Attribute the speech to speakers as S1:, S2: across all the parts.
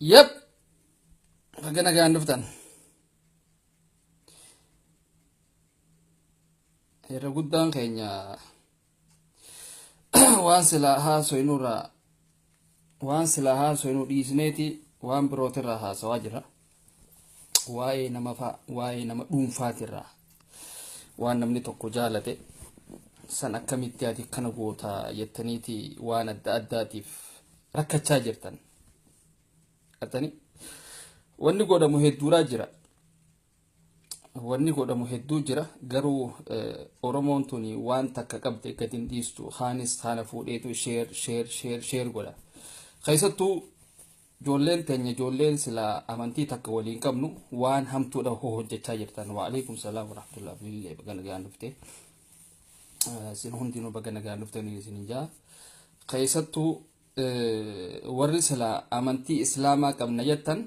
S1: Yep. Baga nagaan dhuftan. Irra guddaan keenya waan silaa haasoinurraa waan silaa haasoinu dhiisneeti waan birootirraa haasawaa jira. waa'ee nama fa'a waa'ee nama dhuunfaatirraa waan namni tokko jaalate san akkamitti ati kana goota jettaniiti waan adda addaatiif rakkachaa jirtan. Atani wanni godhamu hedduuraa jira. Wanni godhamu hedduu jira garuu Oromoon tuni waan takka qabde gadi hin dhiistu. Kaanis haana fuudheetu sheer sheer sheer sheer godha. Keessattuu Ijoolleen teenya ijoolleen silaa amantii takka walii hin qabnu waan hamtuudha hoo hojjechaa jirtan waalaikum salaam warahmatullahi bilillee baga nagaan dhufte isin hundinuu baga nagaan dhuftanii isin jaa keessattuu warri silaa amantii islaamaa qabna jettan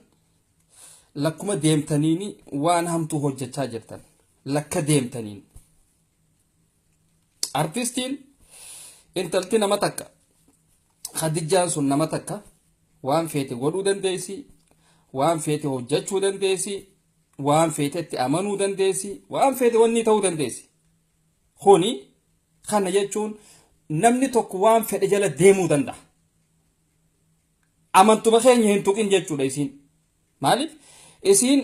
S1: lakkuma deemtaniini waan hamtuu hojjechaa jirtan lakka deemtaniin Artistiin intalti nama takka Khadijjaan sun nama takka waan feete godhuu dandeessi, waan feete hojjechuu dandeessi, waan feetetti amanuu dandeessi, waan feete wanni ta'uu dandeessi. Kuni kana jechuun namni tokko waan fedhe jala deemuu danda'a. Amantuma keenya hin tuqin jechuudha isiin. Maaliif isiin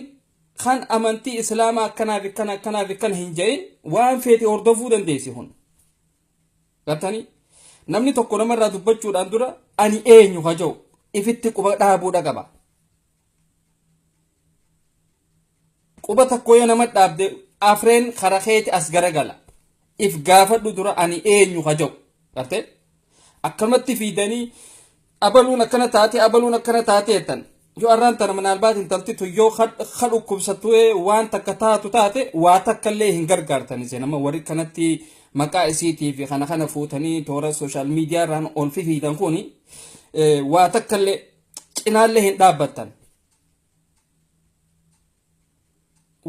S1: kan amantii islaamaa akkanaaf akkana akkanaaf akkana hin ja'in waan feete hordofuu dandeessi kun. Gartanii namni tokko namarraa dubbachuudhaan dura ani eenyu ka ja'u ifitti quba dhaabuudha qaba. Quba tokko yoo nama dhaabde afreen kara keeti as garagala. If gaafadhu dura ani eenyu ka jedhu. Gartee? Akkanumatti fiidanii abaluun akkana taate abaluun akkana taate jettan. Yoo arraan tana minaalbaat intalti tun yoo ka dhukkubsattu waan takka taatu taate waa takka illee hin gargaartan isin amma warri kanatti maqaa isiitii fi kana kana fuutanii toora sooshaal miidiyaa irraan ol fifiidan kun waa takka illee cinaallee hin dhaabbattan.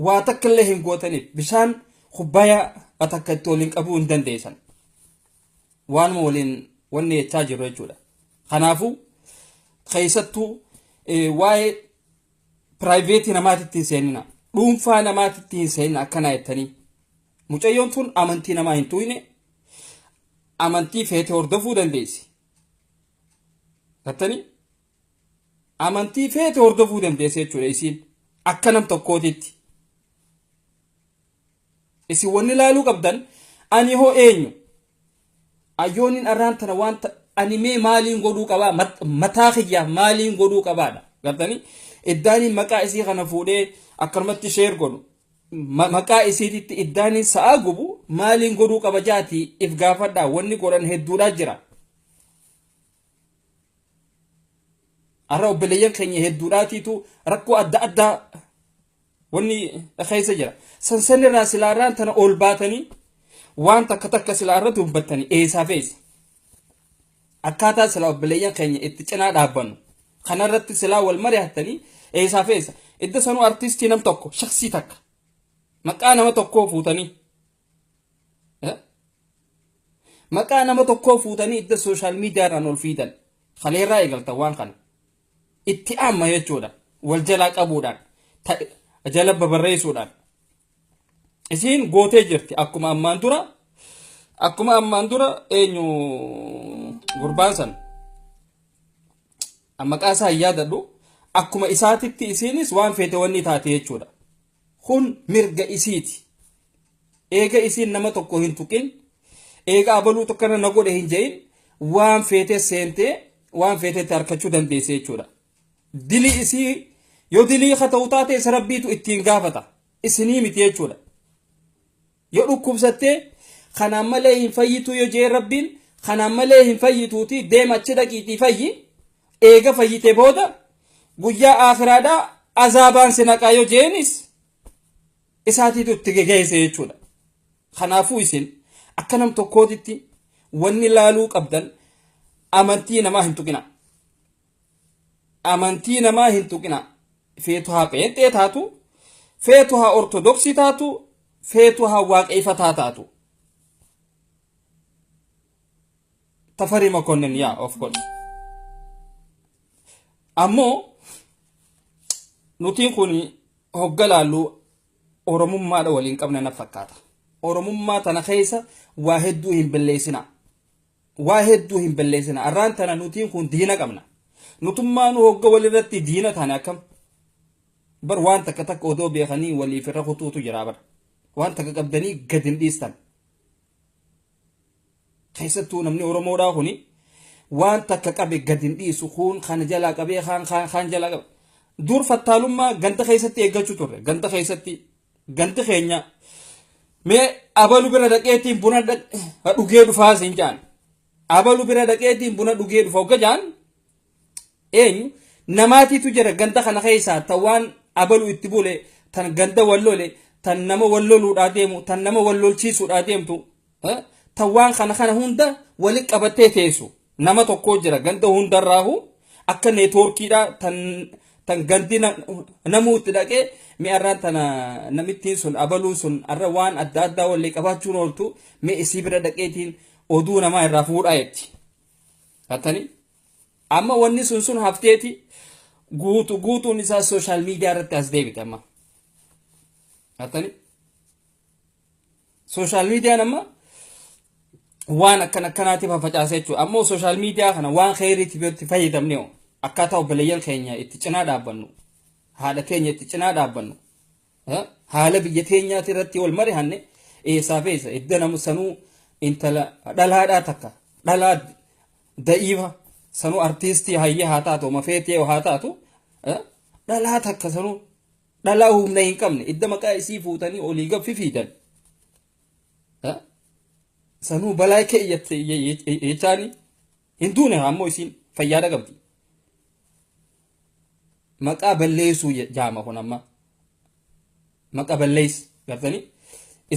S1: waa takka illee hin gootaniif bishaan kubbayaa atakka itti waliin qabuu hin dandeessan waanuma waliin wanni jechaa jiru jechuudha kanaafuu keessattuu waa'ee piraayiveetii namaatitti hin seenina dhuunfaa namaatitti hin seenina akkanaa jettanii mucayyoon tun amantii namaa hin tuqne amantii feete hordofuu dandeessi gattanii amantii feete hordofuu dandeessa jechuudha isiin akka nam tokkootitti. Isin wanni laaluu qabdan ani hoo eenyu? Ayyooniin arraan tana wanta ani mee maaliin godhuu qabaa mataa kiyyaaf maaliin godhuu qabaadha gartanii iddaaniin maqaa isii kana fuudhee akkanumatti sheer godhu maqaa isiititti iddaaniin sa'aa gubu maaliin godhuu qaba jaatii if gaafadhaa wanni godhan hedduudhaa jira. Har'a obboleeyyan keenya hedduudhaatiitu rakkoo adda addaa wanni keessa jira. Sansan irraa silaa irraan tana ol baatanii waan takka takka silaa irra dubbattanii eessaa feessa. Akkaataa silaa obboleeyyan keenya itti cinaa dhaabbannu kanarratti silaa wal mari'attanii eessaa feessa. Idda sanuu artistii nam tokko shaksii takka maqaa nama tokkoo fuutanii Maqaa nama tokkoo fuutanii itti sooshaal miidiyaadhaan ol fiidan. Kaleerraa eegaltan waan kana. Itti amma jechuudha. Wal jalaa qabuudhaan. Jala babarreessuudhaan. Isiin gootee jirti akkuma ammaan dura akkuma ammaan dura eenyu gurbaan san maqaa isaa hin yaadadhu akkuma isaatitti isiinis waan feete wanni taate jechuudha. Kun mirga isiiti. Eega isiin nama tokko hin tuqin, eega abaluutu akkana na godhe hin je'in, waan feetee seentee waan feetetti harkachuu dandeesse jechuudha. Dilii isii yoo dilii ka ta'u taate isa rabbiitu ittiin gaafata. Isinii miti jechuudha. Yo dhukkubsatte, Kanaan malee hin fayyituu yo je'e Rabbiin, Kanaan malee hin fayyituutii deem achi dhaqiitii fayyi, eega fayyite booda guyyaa aakhiraadhaa azaabaan si naqaa yo je'eenis isaatiitu itti gegeeyse jechuudha. Kanaafuu isin akka nam tokkootitti wanni laaluu qabdan amantii namaa hin tuqinaa. amantii namaa hin tuqinaa feetu haa pheenxee taatu feetu haa ortodoksii taatu feetu haa waaqeeffataa taatu tafarii makonnin yaa of godhe ammoo nutiin kun hogga laallu oromummaadha waliin qabna na fakkaata oromummaa tana keessa waa hedduu hin balleessinaa Waa hedduu hin balleessina. Arraan tana nutiin kun diina qabna. Nutummaanuu hogga walirratti diina taane akkam? Bar waan takka takka odoo beekanii waliif irra kutuutu jira bar. Waan takka qabdanii gad hin dhiistan. Keessattuu namni Oromoodhaa kuni waan takka qabe gad hin dhiisu kun kana jalaa qabee kaan kaan kaan jalaa qabe. Dur fattaalummaa ganda keessatti eeggachuu turre. Ganda keessatti Galti keenya mee abalu bira dhaqeetiin buna dhugee dhufaa siin jaan. Abalu bira dhaqeetiin buna dhugee dhufa ogga jaan eenyu namaatiitu jira ganda kana keessaa tan waan abalu itti bule tan ganda wallole tan nama walloluudhaa deemu tan nama wallolchiisuudhaa deemtu eh, ta waan kana kana hunda walitti qabattee teessu nama tokkoo jira ganda hundarraahu akka neetwoorkiidha tan tan gandi na- namuu itti dhaqee mee arraan tana namittiin sun abaluun sun arra waan adda addaa wallee qabaachuun ooltu mee isii bira dhaqeetiin oduu namaa irraa fuudhaa jetti. Hattanii? amma wanni sun sun hafteeti guutu guutuun isaa sooshaal miidiyaa irratti as deebite amma. Hattani? Sooshaal miidiyaan amma waan akkan akkanaatiif facaasee jechuudha. Ammoo sooshaal miidiyaa kana waan keeriitiif yoo itti fayyadamne hoo akkaataa obboleeyyan keenya itti cinaa dhaabbannu haadha keenya itti cinaa dhaabbannu eh, haala biyya teenyaati irratti wal marihanne eessaa fi eessa edda namu sanuu intala dhalaadhaa takka dhalaa da'iifa sanuu artiistii hayya haa taatu oma feetee haa taatu eh, dhalaa takka sanuu dhalaa humna hin qabne idda maqaa isii fuutanii olii gaffi fiidan sanuu balaa keeyyatte jechaani hin duune ammoo isiin fayyaada qabdi maqaa balleessuu jaama kun amma maqaa balleessi gartanii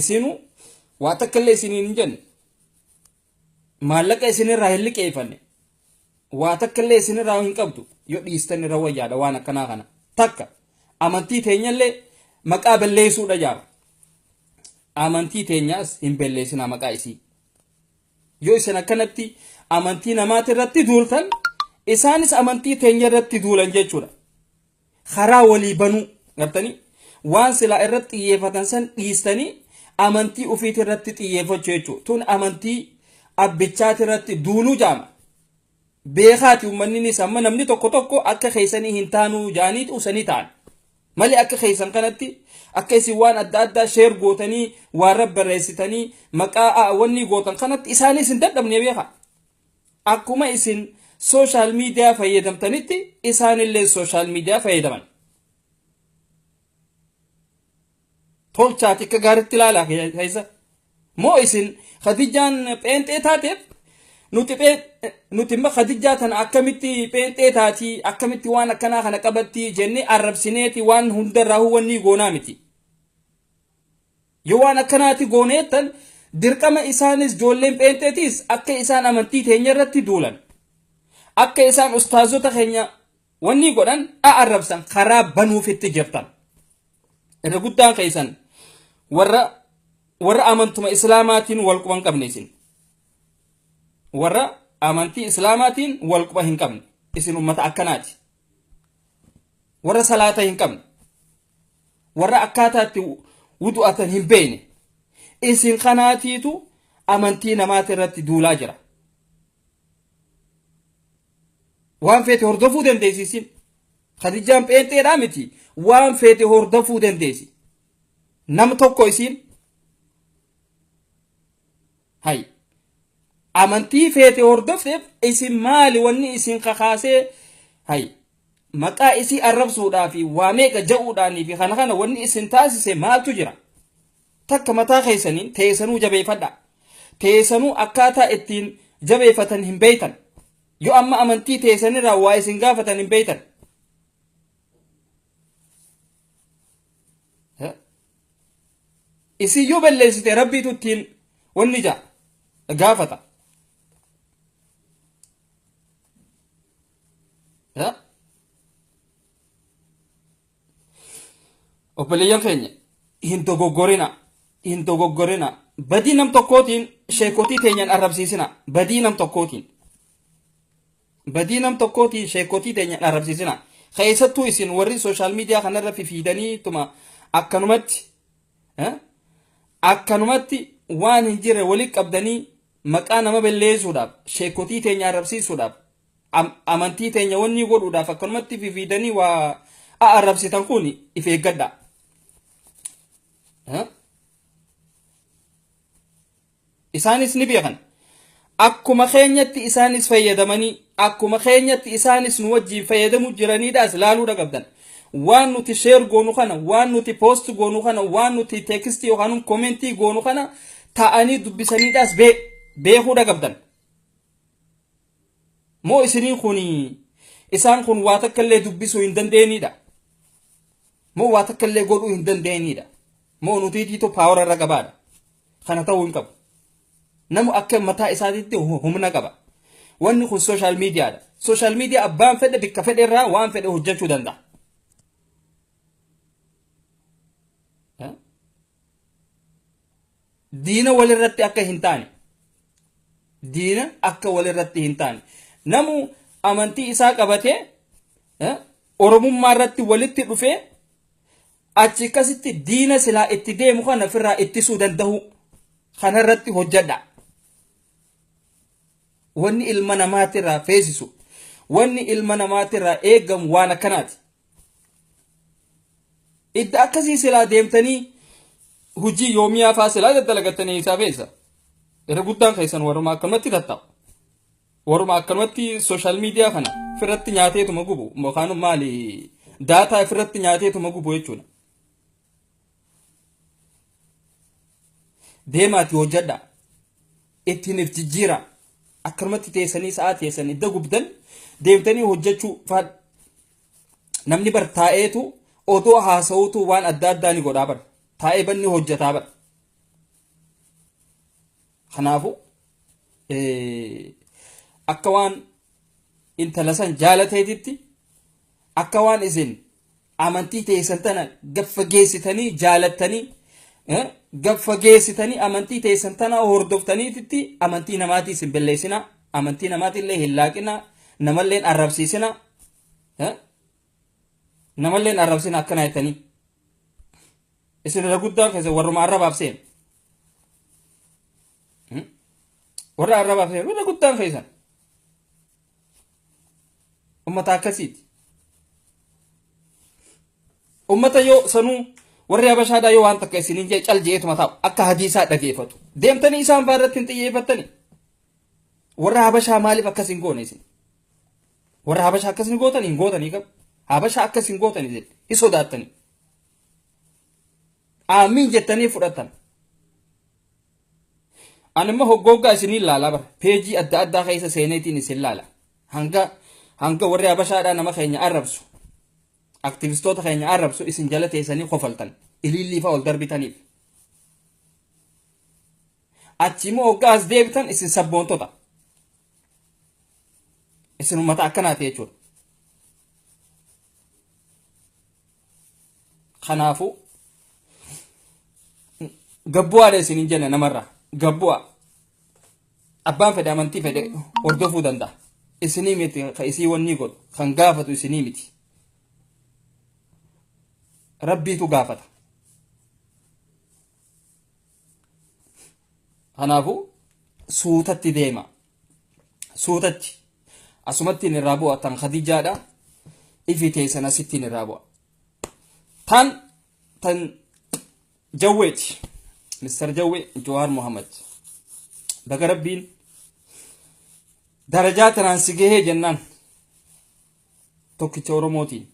S1: isiinuu waa takka illee isiniin hin jenne Maallaqa isin irraa hin liqeeffanne. Waa takka illee isin irraa hin qabdu. Yoo dhiistan irra wayyaadha waan akkanaa kana. Takka amantii teenya illee maqaa balleessuudha jaama. Amantii teenyaas hin balleessinaa maqaa isii. Yoo isin akkanatti amantii namaati irratti duultan isaanis amantii teenya irratti duulan jechuudha. karaa walii banuu gartanii waan silaa irratti xiyyeeffatan san dhiistanii amantii ufiiti irratti xiyyeeffachuu jechuudha. Tun amantii abbichaati irratti duuluu jaama. Beekaati uummanninis amma namni tokko tokko akka keessanii hin taanuu jaaniiti usanii ta'an. Malee akka keessan kanatti akka isin waan adda addaa sheer gootanii waan rabbarreessitanii maqaa wanni gootan kanatti isaanis hin dadhabne beekaa. Akkuma isin social media fayyadamtanitti isaanillee social media fayyadaman. Tolchaati akka gaaritti ilaalaa keessa. Moo isin Khadijaan pheenxee taateef nuti nuti immoo Khadijaa tana akkamitti pheenxee taati akkamitti waan akkanaa kana qabatti jennee arrabsineeti waan hundarraa huwwannii goonaa miti. Yoo waan akkanaati goone jettan, dirqama isaanis joolleen pheenxeetiis akka isaan amantii teenya irratti duulan, akka isaan ustaazota keenya wannii godhan, a arrabsan karaa banuufitti jirtan. Irra guddaan keessan warra warra amantuma islaamaatiin wal quba hin qabne isin. Warra amantii islaamaatiin wal quba hin qabne isin ummata akkanaati. Warra salaata hin qabne. warra akkaataa itti wudu'atan hin beeyne isin kanaatiitu amantii namaati irratti duulaa jira waan feete hordofuu dandeessi isin kadijaan pheenxeedhaa miti waan feete hordofuu dandeessi nam tokko isiin Hay. Amantii feete hordofteef isin maali wanni isin kakaasee hay. Maqaa isii arrabsuudhaa fi waa meeqa ja'uudhaanii fi kana kana wanni isin taasise maaltu jira? Takka mataa keessaniin teessanuu jabeeffadhaa. Teessanuu akkaataa ittiin jabeeffatan hin beektan. Yoo amma amantii teessanirraa waa isin gaafatan hin beektan. isin yoo balleessite rabbiitu ittiin wanni ja'a gaafata. Ya? Obboleeyyan keenya hin dogoggorina hin dogoggorina badii nam tokkootiin sheekotii teenyaan arrabsiisina badii nam tokkootiin. Badii nam tokkooti sheekkotii teenya hin arrabsiisina. Keessattuu isin warri social media kanarra fifiidanii tuma akkanumatti eh, akkanumatti waan hin jirre walitti qabdanii maqaa nama balleessuudhaaf sheekkotii teenya arrabsiisuudhaaf am- amantii teenya wannii godhuudhaaf akkanumatti fifiidanii waa a- arrabsitan kun if eeggadhaa. Eh? Isaanis ni beekan. Akkuma keenyatti isaanis fayyadamanii, akkuma keenyatti isaanis nu wajjiin fayyadamu jiraniidhaas laaluu dhaqabdan. Waan nuti share goonu kana, waan nuti post goonu kana, waan nuti text yookaan comment goonu kana ta'anii dubbisaniidhaas beekuu dhaqabdan. Moo isinii kuni isaan kun waa takka illee dubbisuu hin dandeenyidha? Moo waa takka illee godhuu hin dandeenyidha? Moo nutiitiitu paawara irra qabaadha? Kana ta'uu hin qabu. Namu akka mataa isaatiitti humna qaba. Wanni kun sooshaal miidiyaadha. Sooshaal miidiyaa abbaan fedhe bikka fedhe irraa waan fedhe hojjechuu danda'a. diina walirratti akka hin taane diina akka walirratti hin taane namu amantii isaa qabatee eh, oromummaa irratti walitti dhufee achi akkasitti diina silaa itti deemu kana ofirraa ittisuu danda'u kanarratti hojjedha. Wanni ilma namaatirraa feesisu wanni ilma namaatirraa eegamu waan akkanaati. Idda akkasii silaa deemtanii hojii yoomiyaa faa silaa daddalagattanii eessaa feessa. Irra guddaan keessan warruma akkanumatti tattaa'u. Warruma akkanumatti sooshaal miidiyaa kana ofirratti nyaateetuma gubu yookaan maali daataa ofirratti nyaateetuma gubu jechuudha. deemaati hojjedha ittiin if jijjiira akkanumatti teessanii sa'aa teessan idda gubdan deemtanii hojjechuu faan namni bar taa'eetu odoo haasa'uutu waan adda addaa ni godhaa bar taa'ee banni hojjetaa bar kanaafu akka waan intala san jaalateetitti akka waan isin Amantii teessan tana gaffageessitanii jaalattanii gaffageessitanii amantii teessan tana hordoftaniititti amantii namaatii isin balleessina amantii namaatiillee hin laaqina namalleen arrabsiisina namalleen arrabsina akkana jettanii isin irra guddaa keessa warruma arrabaaf seen warra arrabaaf seen warra guddaan keessan ummata akkasiiti ummata yoo sanuu warri habashaadhaa yoo waan takka isiniin jee cal jeetuma taa'u akka hadiisaa dhageeffatu deemtanii isaan fa'aa irratti hin xiyyeeffattanii warra habashaa maaliif akkas hin goone isin warra habashaa akkas hin gootanii hin gootanii qabu habashaa akkas hin gootanii jedhe hin sodaattanii aamiin jettanii fudhattan Ani immoo hoggooggaa isiniin laala bara. Peejii adda addaa keessa seeneetiin isin laala. Hanga hanga warri Habashaadhaa nama keenya arrabsu. Aktivistoota keenya arrabsu isin jala teessanii kofaltan. Iliillii fa'aa ol darbitaniif. Achi immoo hoggaa as deebitan isin sabboontota. Isin uummata akkanaati jechuudha. Kanaafuu gabbu'aadha isin hin jenna namarraa gabbu'a abbaan fedhe amantii fedhe hordofuu danda'a isinii miti ka isii wannii godhu kan gaafatu isinii miti rabbiitu gaafata kanaafuu suutatti deema suutatti asumattiin irraa bu'a tan khadijaadha ifi teessan asittiin irraa bu'a tan tan jawweeti mister jawwe jawaar muhammad baga rabbiin darajaa tanaan si gahee jennaan tokkicha oromootiin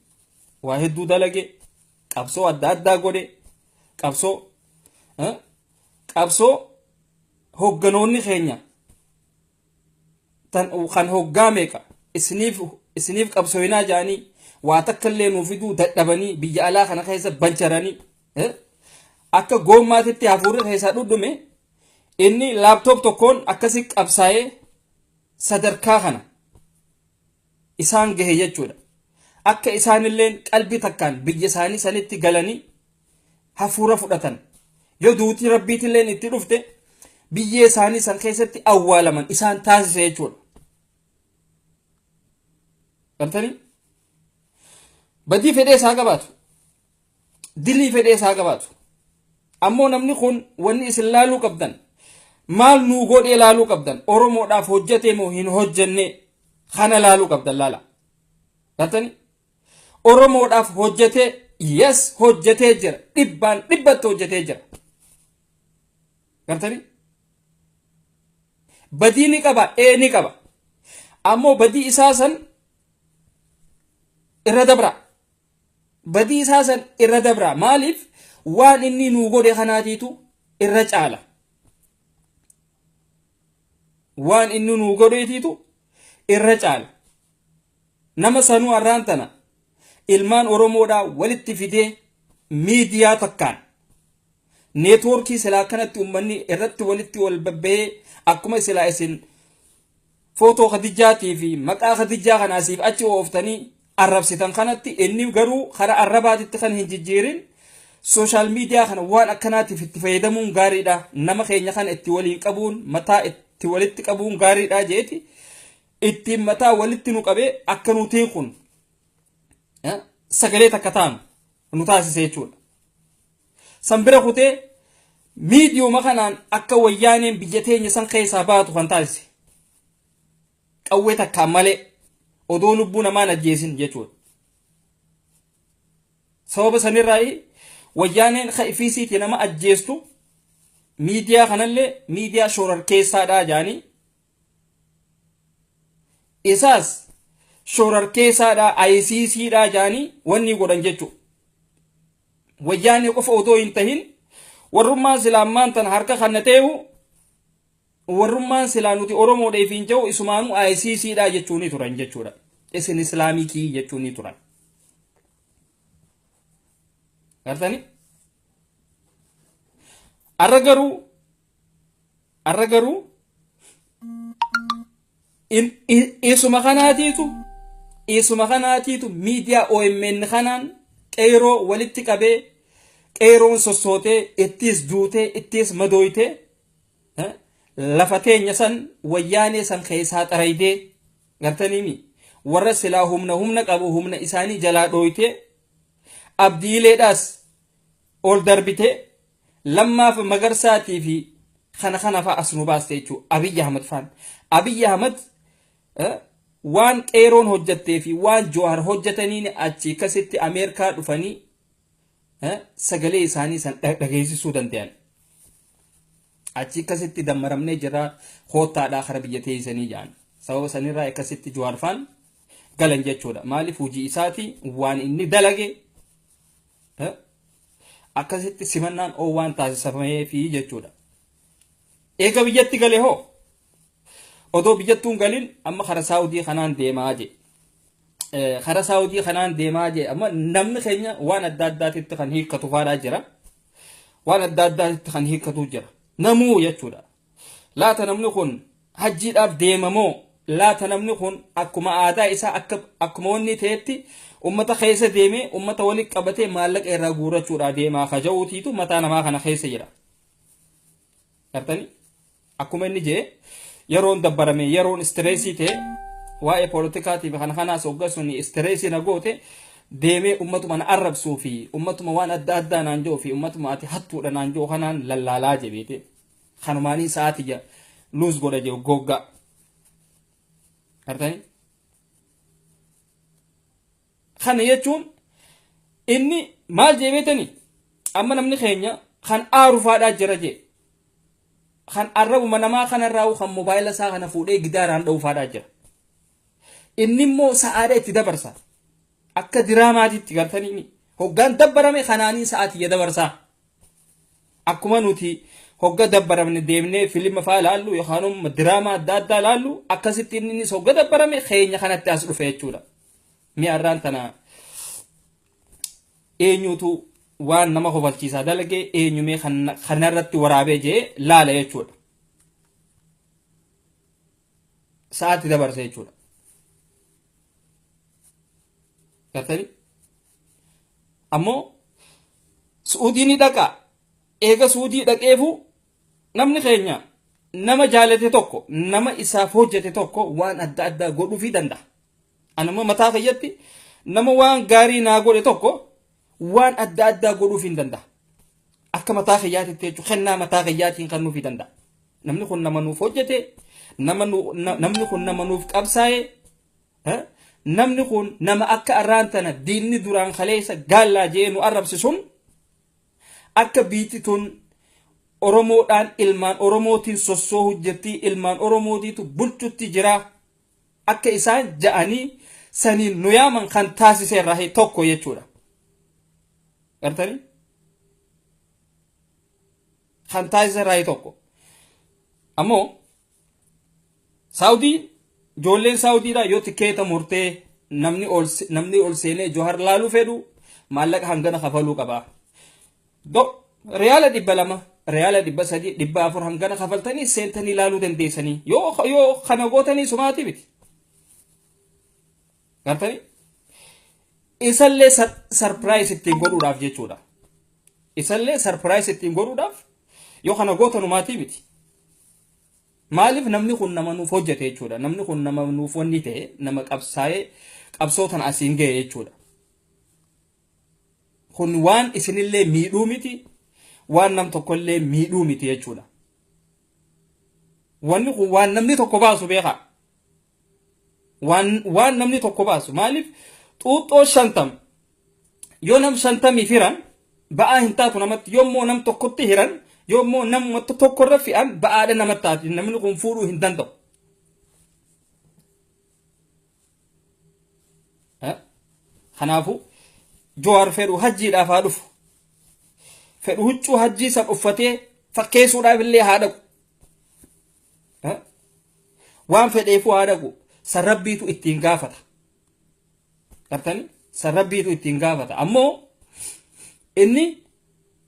S1: waa hedduu dalage qabsoo adda addaa godhe qabsoo qabsoo hogganoonni keenya tan kan hoggaa meeqa isiniif isiniif qabsooyinaa jaanii waa takka illee nuuf fiduu dadhabanii biyya alaa kana keessa bancharanii eh, akka goommaatitti hafuurri keessaa dhudhume inni laaptoop tokkoon akkasi qabsaa'ee sadarkaa kana isaan gahe jechuu dha. Akka isaan illeen qalbii takkaan biyya isaanii sanitti galanii hafuura fudhatan. Yoo duuti Rabbiitti illeen itti dhufte biyyee isaanii san keessatti awwaalaman isaan taasise jechuu dha. Gartanii? Badii fedhee isaa qabaatu. dilii fedhee isaa qabaatu ammoo namni kun wanni isin laaluu qabdan maal nuu godhee laaluu qabdan oromoodhaaf hojjatee moo hin hojjenne kana laaluu qabdan laala galtanii oromoodhaaf hojjatee yes hojjatee jira dhibbaan dhibbatti hojjatee jira galtanii badii ni qaba ee ni qaba ammoo badii isaa san irra dabra badii isaa san irra dabraa maaliif waan inni nuu godhe kanaatiitu irra caala waan inni nuu godheetiitu irra caala nama sanuu arraan tana ilmaan oromoodhaa walitti fidee miidiyaa takkaan neetwoorkii silaa kanatti ummanni irratti walitti wal babba'ee akkuma silaa isin footoo kadijjaatii fi maqaa kadijjaa kana asiif achi ooftanii arrabsitan kanatti inni garuu karaa arrabaatitti kan hin jijjiirin sooshaal miidiyaa kana waan akkanaatiif itti fayyadamuun gaariidha nama keenya kana itti waliin qabuun mataa itti walitti qabuun gaariidha jeeti ittiin mataa walitti nu qabee akka nutiin kun sagalee takka taanu nu taasise jechuudha. San bira kutee miidiyuma kanaan akka wayyaaneen biyya teenya san keessaa baatu kan taasise. Qawwee takkaan malee odoo lubbuu namaan ajjeesin jechuudha. Sababa sanirraa wayyaaneen ifiisiitii nama ajjeestu miidiyaa kanallee miidiyaa shororkeessaadhaa jedhanii isaas shorarkeessaadhaa ayisiisiidhaa jaanii wanni godhan jechuudha. Wayyaanee qofa otoo hin tahin warrummaan silaa ammaan tana harka kanna ta'eehu warrummaan silaa nuti Oromoodha ifiin ja'u isumaanuu ayisiisiidhaa jechuunii turan jechuudha. Isin islaamikii jechuunii turan. Gartanii? Har'a garuu Arra garuu in- i- isuma kanaatiitu isuma kanaatiitu miidiyaa OMN kanaan qeeroo walitti qabee qeeroon sossootee ittiis duutee ittiis madooytee eh, lafa teenya san wayyaanee san keessaa xaraydee gartaniimi warra silaa humna humna qabu humna isaanii jalaa dhooytee abdiileedhaas ol darbitee Lammaafa Magarsaatii fi kana kana faa as nu baaste jechuu Abiy Ahmad faan. Abiy Ahmad waan qeeroon hojjattee fi waan Jawahar hojjataniin achi akkasitti Ameerikaa dhufanii sagalee isaanii san dhageessisuu danda'an. Achi akkasitti dammaramnee jira koottaadhaa kara biyya teessanii jedhan. Sababa sanirraa akkasitti Jawahar faan galan jechuudha. Maaliif hojii isaati waan inni dalage Akkasitti simannaan oowwaan taasisameefi jechuudha. Eega biyyatti gale hoo? Odoo biyyattuun galin amma kara Saawudii kanaan deemaa jee. Kara Saawudii kanaan deemaa jee amma namni keenya waan adda addaatitti kan hiikkatu faadhaa jira. Waan adda addaatitti kan hiikkatu jira. Namuu jechuudha. Laata namni kun hajjiidhaaf deema moo laata namni kun akkuma aadaa isaa akka akkuma wanni ta'etti ummata keessa deemee ummata walitti qabatee maallaqa irraa guurrachuudhaa deemaa kaja'uutiitu mataa namaa kana keessa jira. Gartanii? Akkuma inni jee yeroon dabbarame yeroon istireesii ta'e waa'ee poolitikaatiif kana kanaas hoggassuun istireesii na goote deemee ummatuma na arrabsuu fi ummatuma waan adda addaa naan jiru fi ummatuma ati hattuudha naan jiru kanaan lallaalaa jebeete. Kanumaanii sa'aati ja luus godha jiru goggaa. Artanii? Kana jechuun inni maal jee beetani amma namni keenya kan aaru faadhaa jira jee kan arrabuma namaa kanarraa kan mobaayila isaa kana fuudhee gidaaraan dha'u faadhaa jira inni immoo sa'aadha itti dabarsa Akka diraamaatitti gartanii hoggaan dabbarame kanaanii sa'a tiyya dabarsaa. Akkuma nuti hogga dabbaramne deemnee filima faa laallu yookaan immoo diraamaa adda addaa laallu akkasitti innis hogga dabbarame keenya kanatti as dhufe jechuudha. Mi'a irraan tana eenyutu waan nama kofalchiisaa dalage eenyumee kanarratti waraabee jee laala jechuudha. Sa'aatti dabarsa jechuudha. gartanii ammoo su'uudii ni dhaqa eega su'uudii dhaqeefu namni keenya nama jaalate tokko nama isaaf hojjete tokko waan adda addaa godhuufii danda'a anammoo mataa kiyyatti nama waan gaarii naa godhe tokko waan adda addaa godhuuf hin danda'a. Akka mataa kiyyaatitti jechuun kennaa mataa kiyyaatiin kan nuuf danda'a. Namni kun nama nuuf hojjete, nama nu- na- namni kun nama nuuf qabsaa'e, eh, namni kun nama akka arraan tana diinni duraan kaleessa gaallaa jee nu arrabse sun akka biitti tun Oromoodhaan ilmaan Oromootiin sossoo hojjetti, ilmaan Oromootiitu bulchutti jira. akka isaan ja'anii saniin nu yaaman kan taasise irraa tokko jechuudha. Gartanii? Kan taasise irraa tokko. Ammoo Saawudiin ijoolleen Saawudiidhaa yoo tikeeta murtee namni ol seenee Johar laaluu fedhu maallaqa hangana kafaluu qaba. Do, Riyaala dhibba lama, riyaala dhibba sadii, dhibba afur hangana kafaltanii seentanii laaluu dandeessanii. Yoo yoo kana gootanii sumaatii miti. Gartanii? Isallee sarpiraayis ittiin godhuudhaaf jechuudha. Isallee sarpiraayis ittiin godhuudhaaf yoo kana gootanu maatii miti. Maaliif namni kun nama nuuf hojjete jechuudha. Namni kun nama nuuf wanni ta'e nama qabsaa'ee qabsoo tana asiin ga'e jechuudha. Kun waan isinillee miidhuu miti, waan nam tokkollee miidhuu miti jechuudha. Wanni kun waan namni tokko baasu beekaa. Waan, waan namni tokko baasu. Maaliif xuuxxoo shantam yoo nam shantamiif hiran ba'aa hin taatu namatti yoommoo nam tokkotti hiran yoommoo nam tokkorra fe'an ba'aadha namatti taati namni kun fuudhuu hin danda'u. Kanaafuu Jawaar fedhu hajjiidhaaf haa dhufu. Fedhu huccuu hajjii san uffatee fakkeessuudhaaf illee haa dhaqu. Waan fedheefuu haa dhaqu. San rabbiitu ittiin gaafata. Gartanii? San rabbiitu ittiin gaafata. Ammoo inni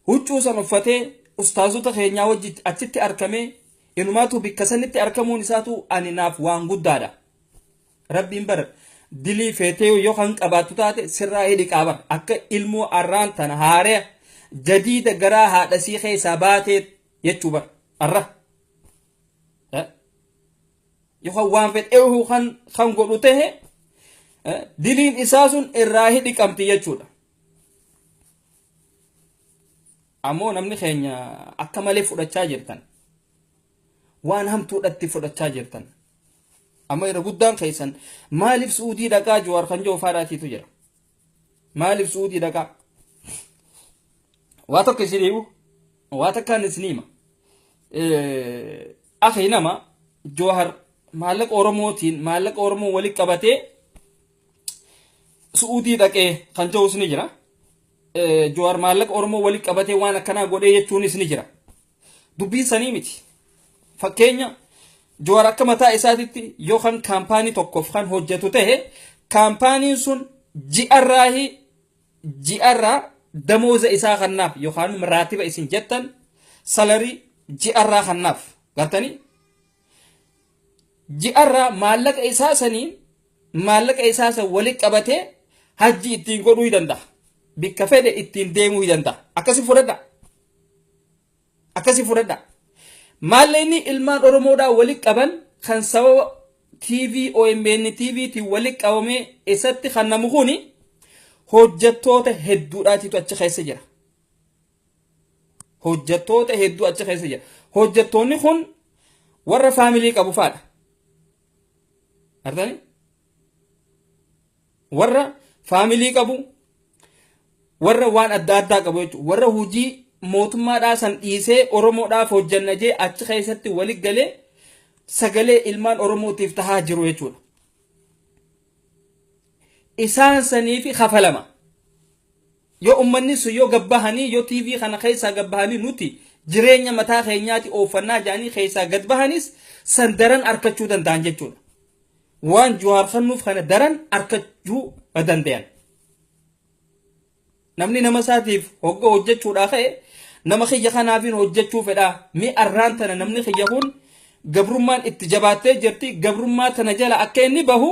S1: huccuu san uffatee ustaazota keenyaa wajji achitti arkamee inumaatu bikka sanitti arkamuun isaatu ani naaf waan guddaadha. Rabbiin bara dilii feetee yoo kan qabaattu taate sirraa hidhi qaaba akka ilmoo arraan tana haaraya jadiida garaa haadha sii keessaa baatee jechuu bara arra. Yookaan waan fedheehu kan kan godhu ta'e diliin isaa sun irraa hidhi qabdi jechuudha. Ammoo namni keenya akka malee fudhachaa jirtan. Waan hamtuudhatti fudhachaa jirtan. Amma irra guddaan keessan maaliif suudii dhaqaa Jawaar kan jiru faadhaatiitu jira. Maaliif suudii dhaqaa? Waa tokko isin himu waa takkaan isin hima. Akhi nama Jawaar maallaqa Oromootiin maallaqa Oromoo walitti qabatee suudii dhaqee kan jirus ni jira. Jawaar maallaqa Oromoo walitti qabatee waan akkanaa godhee jechuunis ni jira. Dubbiin sanii miti. Fakkeenya Jawaar akka mataa isaatitti yoo kan kaampaanii tokkoof kan hojjetu ta'e kaampaaniin sun ji'arraahi ji'arraa damooza isaa kannaaf yookaan raatiba isin jettan salarii ji'arraa kannaaf gartanii ji'arraa maallaqa isaa saniin maallaqa isaa san wali qabatee hajji ittiin godhuu ni danda'a. Bikka fedhe ittiin deemuu ni danda'a. Akkasi fudhadha. Akkasi fudhadha. Maallaqni ilmaan Oromoodhaa wali qaban kan sababa TV OMN TV tiin wali qabamee isatti kennamu kuni hojjettoota hedduudhaatitu achi keessa jira. Hojjettoota hedduu achi keessa jira. Hojjettoonni kun warra faamilii qabu faadha. artani warra faamilii qabu warra waan adda addaa qabu jechuudha warra hojii mootummaadhaa san dhiisee oromoodhaaf hojjanna jee achi keessatti wali galee sagalee ilmaan oromootiif tahaa jiru jechuudha isaan saniifi kafalama Yoo ummanni sun yoo gad bahanii yoo TV kana keessaa gad bahanii nuti jireenya mataa keenyaati ooffannaa jedhanii keessaa gad bahanis san daran arkachuu danda'an jechuudha. Waan Juhaar kannuuf kana daran arkachuu dandayan. Namni nama isaatiif hogga hojjechuudhaa ka'e nama kiyya kanaafiin hojjechuu fedhaa mi arraan tana namni kiyya kun gabrummaan itti jabaattee jirti gabrummaa tana jala akka inni bahu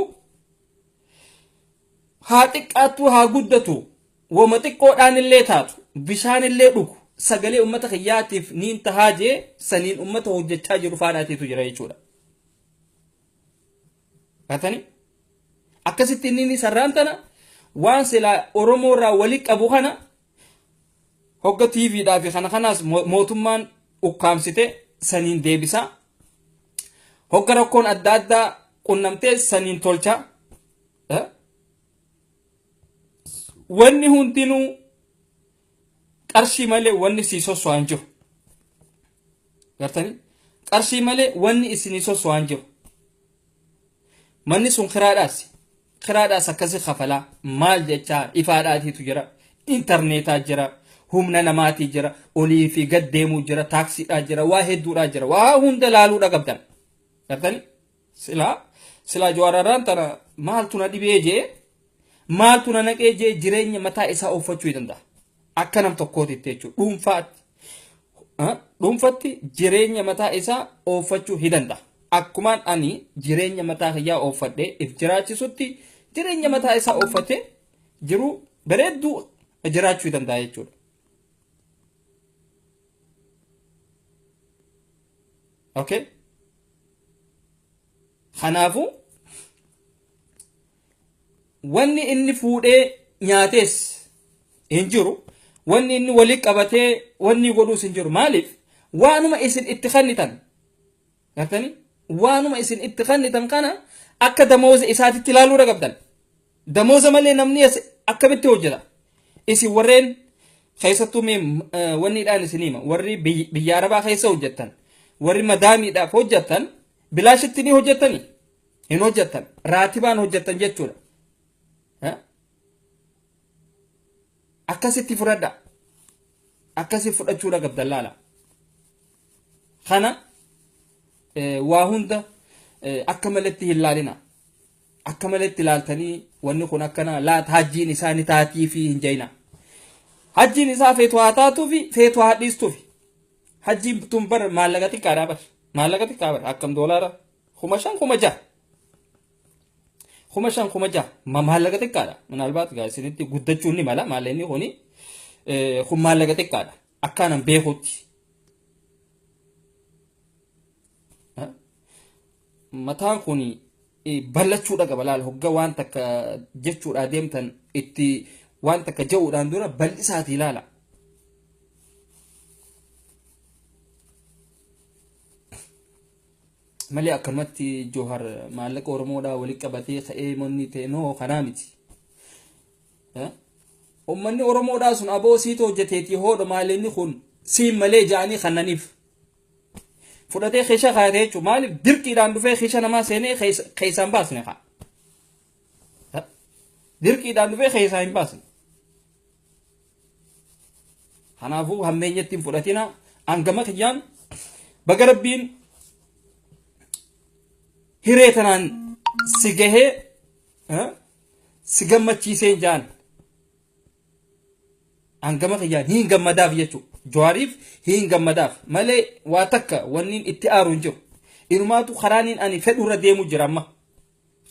S1: Haa xiqqaattuu haa guddatu woma xiqqoodhaanillee taatu bishaanillee dhugu sagalee uummata kiyyaatiif niin tahaa jee saniin uummata hojjechaa jiru faanaatiitu jira jechuudha. Gatani? Akkasitti inni inni sarraan tana waan silaa Oromoo irraa wali qabu kana hogga TV dhaa fi kana kanaas mo- mootummaan ukkaamsite saniin deebisaa. Hogga rakkoon adda addaa qunnamtee saniin tolchaa. Wanni hundinuu qarshii malee wanni sii sosso'aa hin jiru. Gartanii? Qarshii malee wanni isinii sosso'aa hin jiru. Manni sun kiraadhaas. Kiraadhaas akkasi kafalaa. Maal jechaa ifaadhaatiitu jira. Intarneetaa jira. Humna namaatii jira. Olii fi gad deemuu jira. Taaksiidhaa jira. Waa hedduudhaa jira. Waa hunda laaluudha qabdan. Gartanii? Silaa silaa Jawaar Arraan tana maaltu na dhibee jee maaltu na naqee jee jireenya mataa isaa ooffachuu danda'a. Akka nam tokkootitti jechuudha. Dhuunfaatti. Ah, Dhuunfatti jireenya mataa isaa ooffachuu ni danda'a. Akkumaan ani jireenya mataa kiyyaa ooffadhee if jiraachisutti jireenya mataa isaa ooffatee jiruu bareedduu jiraachuu ni danda'a jechuudha. Okay? Kanaafuu wanni inni fuudhee nyaatees hin jiru. Wanni inni walitti qabatee wanni godhuus hin jiru. Maaliif? Waanuma isin itti kennitan. Gartanii? Waanuma isin itti kennitan kana akka damooza isaatitti ilaaluu dhagabdan. Damooza malee namni as akkamitti hojjeta? Isin warreen keessattuu mee eh, wanniidhaan isin hima warri biy- biyya arabaa keessa hojjettan warri madaamiidhaaf hojjettan bilaashitti ni hojjettani hin hojjettan raatibaan hojjettan jechuudha Eh? akkasitti fudhadha akkasi fudhachuudha qabdan laala kana eh, waa hunda eh, akka maletti hin laalina Akka malee itti ilaaltanii wanni kun akkana laat hajjiin isaa ni taatii fi hin jayinaa. Hajjiin isaa feetu haa taatuu fi feetu haa dhiistuu fi. Hajjiin tun bar maallaqa xiqqaadhaa bar. Maallaqa xiqqaa bar akkam doolaara kuma shan kuma jaha. Kuma shan kuma jaha ma maallaqa xiqqaadha. Minaalbaat gaa isinitti guddachuun ni mala maallaqni kuni kun maallaqa xiqqaadha. Akkaanan beekutti. mataan kun bal'achuudha qaba laal hogga waan takka jechuudhaa deemtan itti waan takka ja'uudhaan dura bal'isaatii laala. malee akkanumatti Joohar maallaqa Oromoodhaa walitti qabatee ka'ee monni ta'e noo kanaa miti. Uummanni Oromoodhaa sun aboo siitu hojjeteetii hoodha maalinni kun siin malee ja'anii kannaniif fudhatee keessa kaayate jechuudha. Maaliif dirqiidhaan dhufee keessa namaa seenee keessaa hin baasne kaa. Dirqiidhaan dhufee keessaa hin baasne. Kanaafuu hammeenyatti hin fudhatina hangama kiyyaan baga rabbiin hiree tanaan si gahee si gammachiisee jaan. Hangama kiyyaan hin gammadaaf jechuu. Jawaariif hin gammadaaf malee waa takka wanniin itti aaru hin jiru. Inumaatu karaaniin ani fedhu irra deemu jira amma.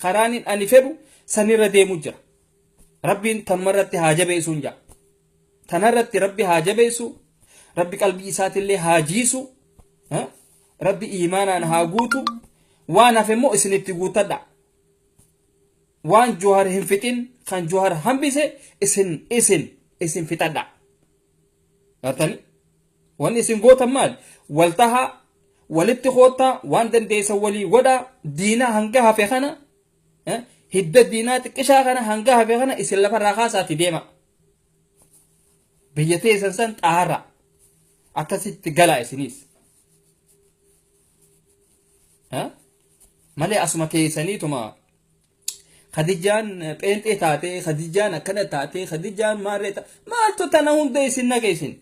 S1: Karaaniin ani fedhu sanirra deemu jira. Rabbiin tanumarratti haa jabeessuun jaa. Tanarratti rabbi haa jabeessu. Rabbi qalbii isaatillee haa jiisu. Rabbi iimaanaan haa guutu. Waan hafe immoo isinitti guuttadha. waan johar hin fixin kan johar hambise isin isin isin fixadha gartani wanni isin gootan maal wal taha walitti koottaa waan dandeessan walii godha diinaa hanga hafe kana eh, hidda diinaa xiqqishaa kana hanga hafe kana isin lafarraa kaasaati deema biyya teessan san xaara akkasitti galaa isiniis malee asuma teessaniituma Khadijaan pheenxee taatee Khadijaan akkana taatee Khadijaan maarree ta maaltu tana hunda isin naqa isin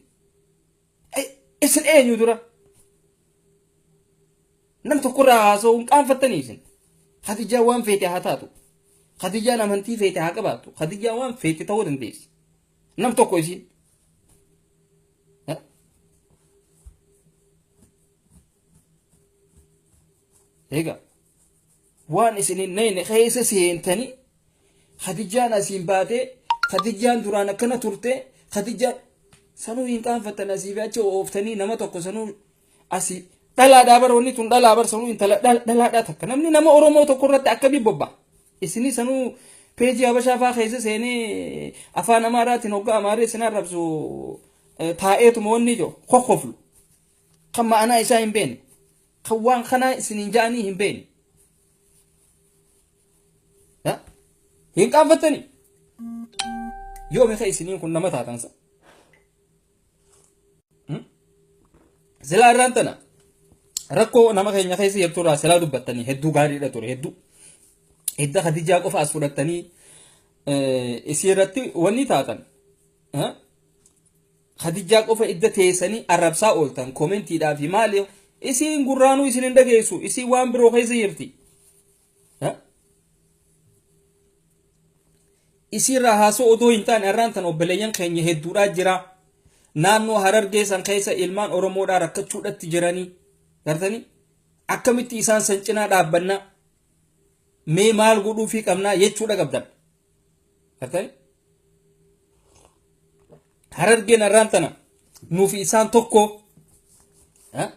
S1: isin eenyu dura nam tokkorraa haasa'u hin qaanfattanii isin Khadijaan waan feete haa taatu Khadijaan amantii feete haa qabaattu Khadijaan waan feete ta'uu dandeessi Nam tokko isiin. Egaa waan isin hin nayne keessa seentanii Khadijaan asiin baatee Khadijaan duraan akkana turtee Khadijaan sanuu hin qaanfattan asii fi achi ooftanii nama tokko sanuu asi dhalaadhaa bara wanni tun dhalaa bar sanuu intala dha- dhalaadhaa takka namni nama oromoo tokko irratti akkamii bobba isinii sanuu peejii habashaa faa keessa seenee afaan amaaraatiin hoggaa amaaree isin arrabsu eh, taa'eetuma wanni ijoo kokkoflu kan ma'anaa isaa hin beekne kan waan kanaa isiniin ja'anii hin beekne Ya? hin qaanfattanii yoo meeqa isiniin kun nama taatan sa Silaa irraan tana rakkoo nama keenya keessa jirtu irraa silaa dubbattanii hedduu gaariidha ture hedduu. Hidda Khadijaa qofa as fudhattanii isii irratti wanni taatan. Khadijaa qofa idda teessanii arrabsaa ooltan koomentiidhaa fi maali isiin gurraanuu isin hin dhageessu isiin waan biroo keessa jirti. Isiirraa haasoo odoo hin taane har'aan tan obboleeyyan keenya hedduudhaa jira. Naannoo harargee san keessa ilmaan Oromoodhaa rakkachuudhatti jiranii. Gartanii? Akkamitti isaan san cinaa dhaabbannaa? Mee maal godhuufii qabnaa jechuudha qabdan. Gartanii? Harargeen arraan tana nuufi isaan tokko eh?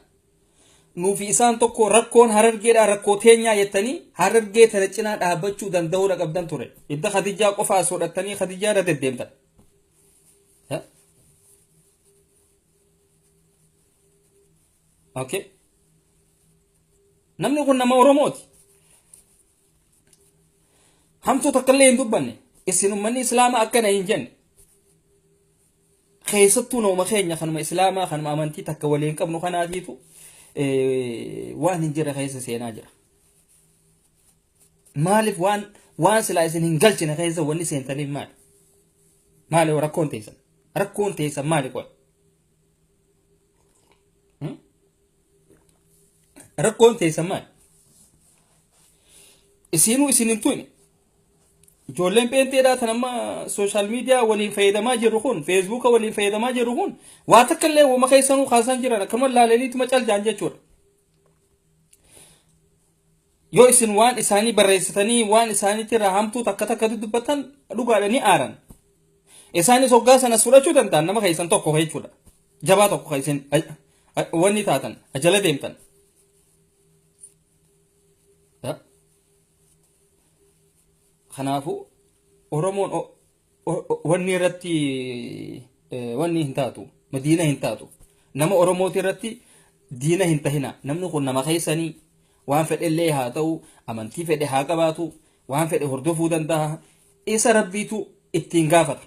S1: nuufi isaan tokko rakkoon harargeedhaa rakkoo teenyaa jettanii harargee tana cinaa dhaabbachuu danda'uudha qabdan ture. Idda Khadijaa qofa as hodhattanii Khadijaa irra deddeemtan. Eh? Okay. Namni kun nama Oromooti. Hamtuu takka illee hin dubbanne. Isin uummanni Islaamaa akkana hin jenne. Keessattuu nooma keenya kanuma Islaamaa kanuma amantii takka waliin qabnu kanaatiitu waan hin jirre keessa seenaa jira. Maaliif waan waan silaa isin hin galchine keessa wanni seentaniif maali? Maali rakkoon teessan? Rakkoon teessan maali qoy? Rakkoon teessan maali? Isiinuu isin hin tuqne. Ijoolleen pheenxeedhaa tan amma sooshaal miidiyaa waliin fayyadamaa jirru kun feesbuuka waliin fayyadamaa jirru kun waa takka illee wama keessanuu kaasaan jiran akkuma laalaniituma caljaan jechuudha. yoo isin waan isaanii barreessitanii waan isaaniitti irraa hamtuu takka takka dudubbattan dhugaadha ni aaran isaanis hoggaa sanas fudhachuu danda'an nama keessan tokko jechuudha jabaa tokko kan isin wanni taatan ajala deemtan kanaafuu oromoon wanni irratti wanni hin taatu madiina hin taatu nama oromooti irratti diina hin tahina namni kun nama keessanii waan fedhe illee haa ta'u amantii fedhe haa qabaatu waan fedhe hordofuu danda'a isa rabbiitu ittiin gaafata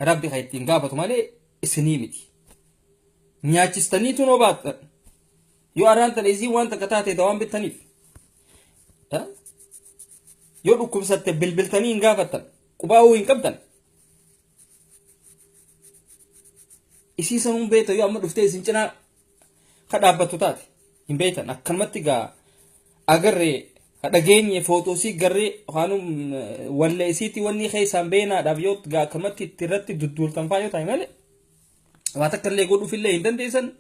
S1: rabbi kan ittiin gaafatu malee isinii miti nyaachistaniitu noo baattan Yoo araan tana isiin waan takka taate dawaan bittaniif. Yoo dhukkubsatte bilbiltanii hin gaafattan. Qubaa'uu hin qabdan. Isii san hin beektan yoo amma dhuftee isin cinaa ka dhaabbattu taate hin beektan akkanumatti gaa agarree dhageenye footoosii garree waanum wallee isiitii wanni keessaan beenaadhaaf yoo gaa akkanumatti itti irratti dudduultan faa yoo ta'e malee waa takka illee godhuuf illee hin dandeessan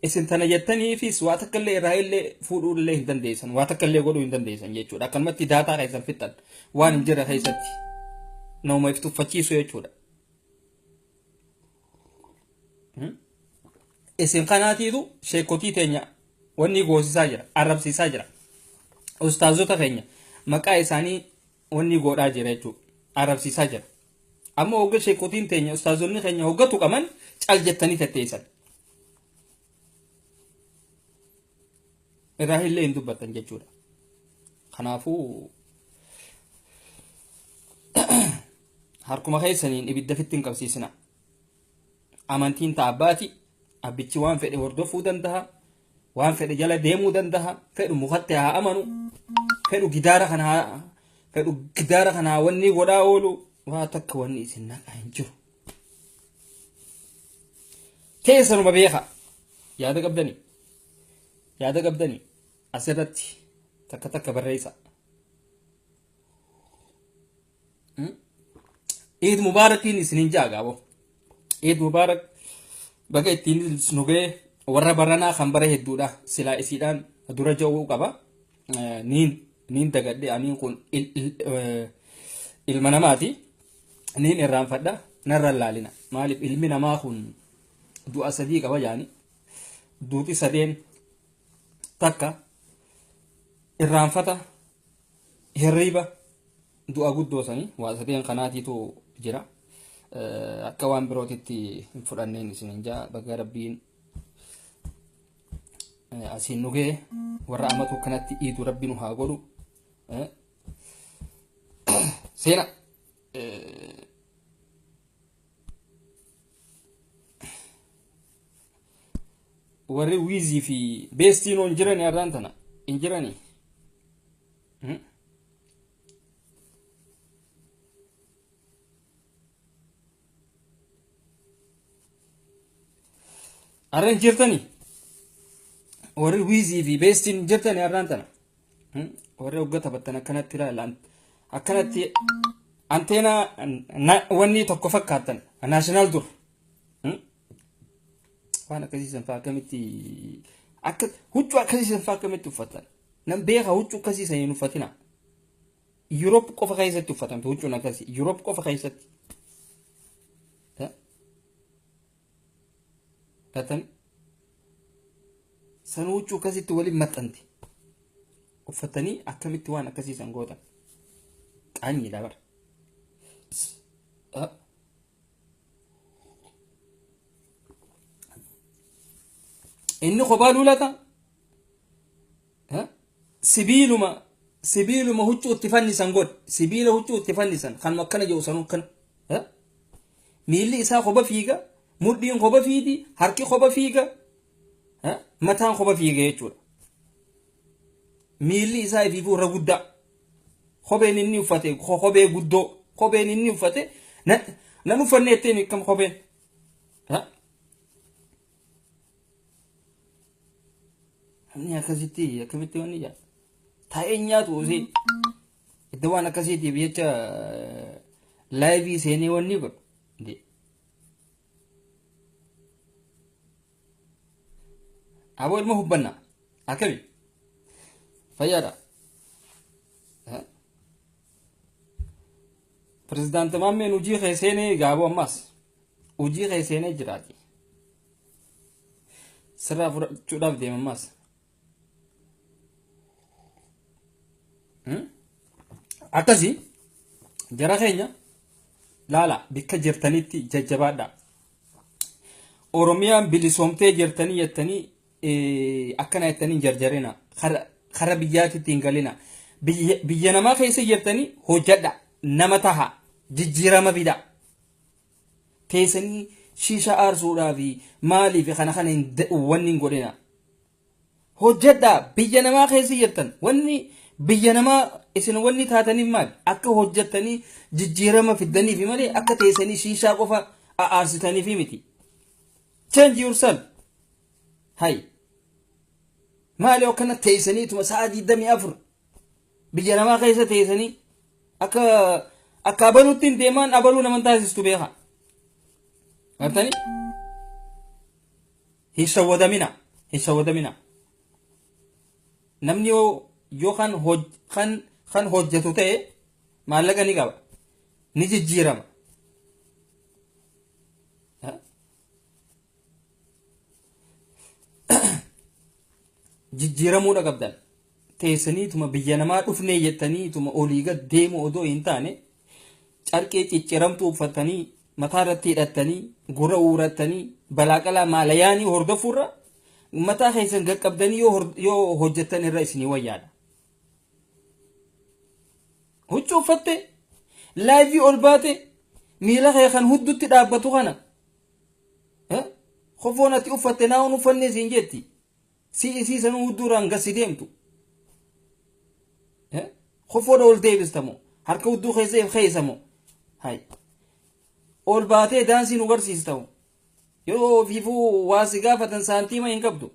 S1: isin tana jettaniifis waa takka illee irraa illee fuudhuu illee hin dandeessan waa takka illee godhuu hin dandeessan jechuudha akkanumatti daataa keessan fixan waan hin jirre keessatti nama if tuffachiisu jechuudha. Isin kanaatiitu sheekotii teenya wanni goosisaa jira arrabsiisaa jira ustaazota keenya maqaa isaanii wanni godhaa jira jechuudha. Arrabsiisaa jira. Amma hogga sheekotiin teenya ustaazonni keenya hogga tuqaman cal jettanii tetteessan. Irraa illee hin dubbattan jechuudha. Kanaafuu harkuma keessaniin ibidda fitti hin qabsiisina. Amantiin ta abbaati. Abbichi waan fedhe hordofuu danda'a. Waan fedhe jala deemuu danda'a. Fedhu mukatti haa amanu. Fedhu gidaara kana haa fedhu gidaara kana haa wanni godhaa oolu. Waa takka wanni isin naqaa hin jiru. Teessanuma beekaa. Yaada qabdanii. Yaada qabdanii. Asirratti takka takka barreessaa. Eid Mubaarakiin isinin jaa gaabo. Eid Mubaarak baga ittiin nu ga'e warra baranaa kan bara hedduudha silaa isiidhaan dura ja'uu qaba. Eh, Niin niin dagadhe aniin kun il- il- eh, ilma namaati. Niin irraanfadha narra hin laalina. Maaliif ilmi namaa kun du'a sadii qaba jaani. Duuti sadeen takka irraanfata Hirriiba du'a guddoo sanii waa sadeen kanaatiitu jira. Akka waan birootitti hin fudhanneen isinin jaa baga rabbiin asiin nu ga'e warra amatu kanatti iidu rabbi nu haa godhu. Seena warri wiizii fi beestiinoo hin jirani har'aan tana hin jirani. Har'a hin jirtani warri wiizii fi beestiin hin jirtani har'aan tana warri hogga taphattan akkanatti ilaalan akkanatti anteenaa wanni tokko fakkaatan naashinaal dur. waan akkasiisan fa'aa akkamitti akka huccuu akkasiisan fa'aa akkamitti uffatan nan beeka huccuu akkasiisan hin uffatina Yuroop qofa keessatti uffatamte huccuun akkasii Yuroop qofa keessatti gatan san huccuu akkasitti waliin maxxante uffatanii akkamitti waan akkasiisan gootan qaanyiidha bara. inni kophaa luulata sibiiluma sibiiluma huccuu itti fannisan godhe sibiila huccuu itti fannisan kan akkana jedhu sanuu kan miilli isaa kopha fiiga mudhiin kopha fiidi harki kopha fiiga mataan kopha fiiga jechuudha miilli isaa ifiifuu irra guddaa Kopheen inni uffate kophee guddoo kopheen inni uffate nan uffanne jettee miikkam kopheen. Namni akkasitti akkamitti wanni jaa taa'ee nyaatu osee iddoo waan akkasiitiif jecha laayivii seenee wanni godhu. Aboo ilma hubbanna. Akkami? Fayyaadha. Pirezidaanti Maammeen hojii kee seenee egaa aboo ammaas. Hojii kee seenee jiraati. Sirraa fudhachuudhaaf deema ammaas. akkasii jara keenya laala bikka jirtanitti jajjabaadha oromiyaan bilisoomtee jirtanii jettanii eh, akkana jettanii hin jarjarina Kara- kara biyyaatitti hin galina Biyya- biyya namaa keessa jirtanii hojjadha nama taha jijjiirama fida teesanii shisha aarsuudhaafi maaliifi kana kana hin da- wanni hin godhina hojjedhaa biyya namaa keessa jirtan wanni biyya namaa isin wanni taataniif maal akka hojjettanii jijjiirama fiddaniifi malee akka teesanii shiishaa qofa aarsitaniifi miti change yourself hay maali akkana teesaniituma sa'a 24 Biyya namaa keessa teessanii akka akka abaluutti hin deemaan abaluu naman taasistu beekaa. Gartanii? Hin shawwadamina. Hin shawwadamina. Namni yoo yoo kan hoj kan kan hojjetu ta'e maallaqa ni qaba. Ni jijjiirama. jijjiiramuudha qabdan teessaniituma biyya namaa dhufnee jettaniituma olii gad deemu odoo hin taane carqee cicciramtuu uffatanii mataa irratti hidhattanii gura uurattanii balaaqalaa maalayaanii hordofuurra mataa keessan gaqqabdanii yoo hor- yoo hojjettan irra isinii wayyaadha. Huccuu uffatte laayivii ol baate miila kee kan huddutti dhaabbatu kana Kofoon ati uffatte naa'uun uffannee siin jetti. Si isii sanuu hudduuraan gassi deemtu. Kofoodha ol deebistamu. Harka hudduu keessa if keessamu. Hay. Ol baatee daansii nu garsiistamu. Yoo ofiifuu waa si gaafatan saantiima hin qabdu.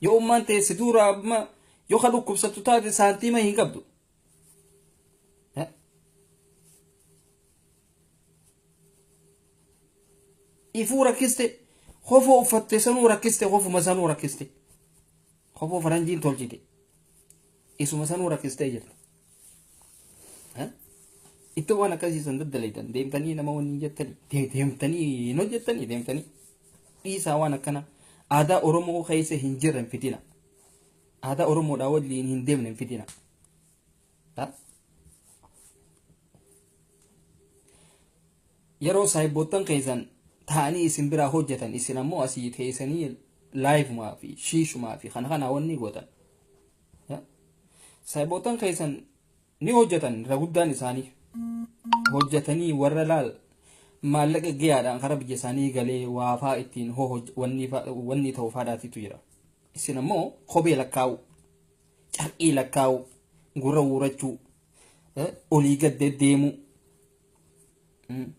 S1: Yoo ummaan teessi duura amma yoo ka dhukkubsattu taate saantiima hin qabdu. ifuu rakkiste kofoo uffatte sanuu rakkiste kofuma sanuu rakkiste kofoo faranjiin tolchite isuma sanuu rakkistee jirta itti waan akkasiisan daddaleetan deemtanii nama waliin jettanii de- deemtanii hin hojjettanii deemtanii dhiisaa waan akkana aadaa oromoo keessa hin jirren fidina Aadaa Oromoodhaa waliin hin deemne hin fidina. Ta? Yeroo saayibboottan keessan taa'anii isin biraa hojjetan isin ammoo asii teessanii laayivumaa fi shiishumaa fi kana kana wanni gootan. Ta? Saayibboottan keessan ni hojjetan irra guddaan isaanii. Hojjetanii warra laal maallaqa gahaadhaan karaa biyya isaanii galee waafaa ittiin hoo hoj- wanni fa- wanni ta'u faadhaatitu jira. Isin ammoo kophee lakkaa'uu, carqii lakkaa'uu, gurra uurachuu, eh, olii gad deddeemuu. Mm.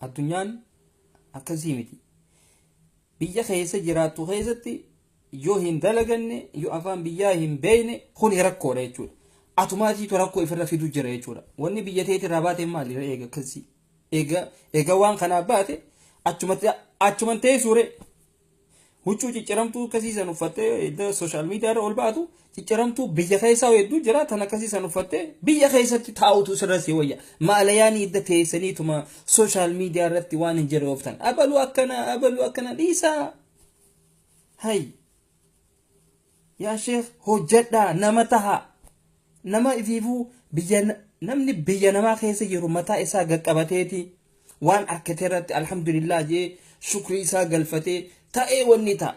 S1: Addunyaan akkasii miti. Biyya keessa jiraattu keessatti yoo hin dalaganne, yoo afaan biyyaa hin beekne kun rakkoodha jechuudha. Atumaatiitu rakkoo ifirra fidu jira jechuudha. Wanni biyya teetii irraa baate maali ree eega akkasii? Eega, eega waan kanaa baate achumatti achuman teessuure. Huccuu cicciramtuu akkasii san uffattee edda sooshaal miidiyaa irra ol ba'atu cicciramtuu biyya keessaa hedduu jira tan akkasii san uffattee biyya keessatti taa'utu sirra si wayya. Maalayaanii edda teessaniituma sooshaal miidiyaa irratti waan hin jirre ooftan. Abaluu akkana abaluu akkana dhiisaa. Hayi. Yaa sheekh hojjadhaa nama tahaa nama ifiifuu biyya namni biyya namaa keessa jiru mataa isaa gaqqabateeti waan arkate irratti alhamdulillah jee shukrii isaa galfatee ta'ee wanni ta'a.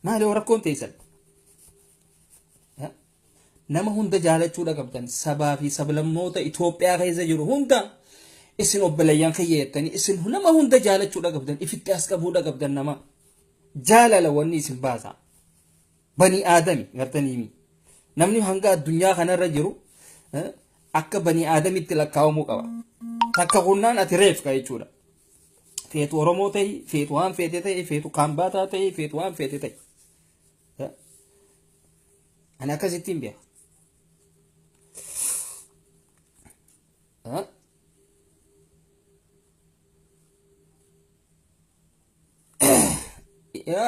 S1: Maali rakkoon teessan? Nama hunda jaalachuudha qabdan. Sabaa fi sablammoota Itoophiyaa keessa jiru hunda isin obboleeyyan kiyya jettanii isin nama hunda jaalachuudha qabdan. Ifitti as qabuudha qabdan nama. Jaalala wanni isin baasa. Bani aadami gartaniimi. Namni hanga addunyaa kanarra jiru eh, akka bani aadamitti lakkaa'amuu qaba. Takka kunnaan ati reefka jechuudha. Feetu Oromoo ta'i, feetu waan feete ta'i, feetu Kaambaataa ta'i, feetu waan feete ta'i. Ani akkasitti hin beeku.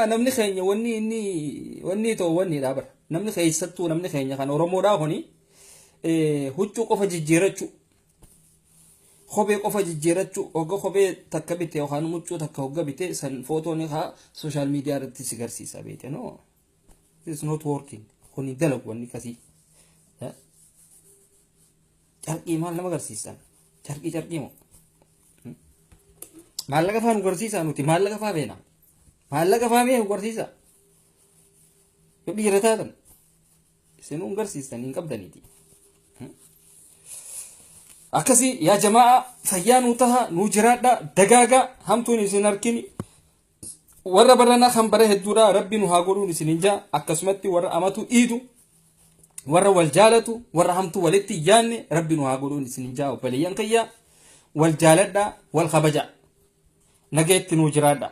S1: Namni keenya wanni inni wanni ta'u wanni dha bara. Namni keessattuu namni keenya kan Oromoodhaa kuni huccuu qofa jijjiirachuu Kophee qofa jijjiirachuu hogga kophee takka bite yookaan muccuu takka hogga bite san footoo ni kaa sooshaal miidiyaa irratti si garsiisa beete no it's not working kun hin dalagu wanni kasii carqii maal nama garsiisan carqii carqii moo maallaqa faa nu garsiisa nuti maallaqa faa beena maallaqa faa mee nu garsiisa yoo dhiira taatan isin hin garsiistan hin qabdaniiti akkasii yaa jamaa fayyaa nuu taha nuu jiraadha dagaaga hamtuun isin harkini warra barana kan bara hedduudha rabbi nu haa godhuun isin hin jaa akkasumatti warra amatu dhiidu warra wal jaalatu warra hamtuu walitti hin yaanne rabbi nu haa godhuun isin hin jaa obboleeyyan kiyya wal jaaladha wal kabaja nageetti nuu jiraadha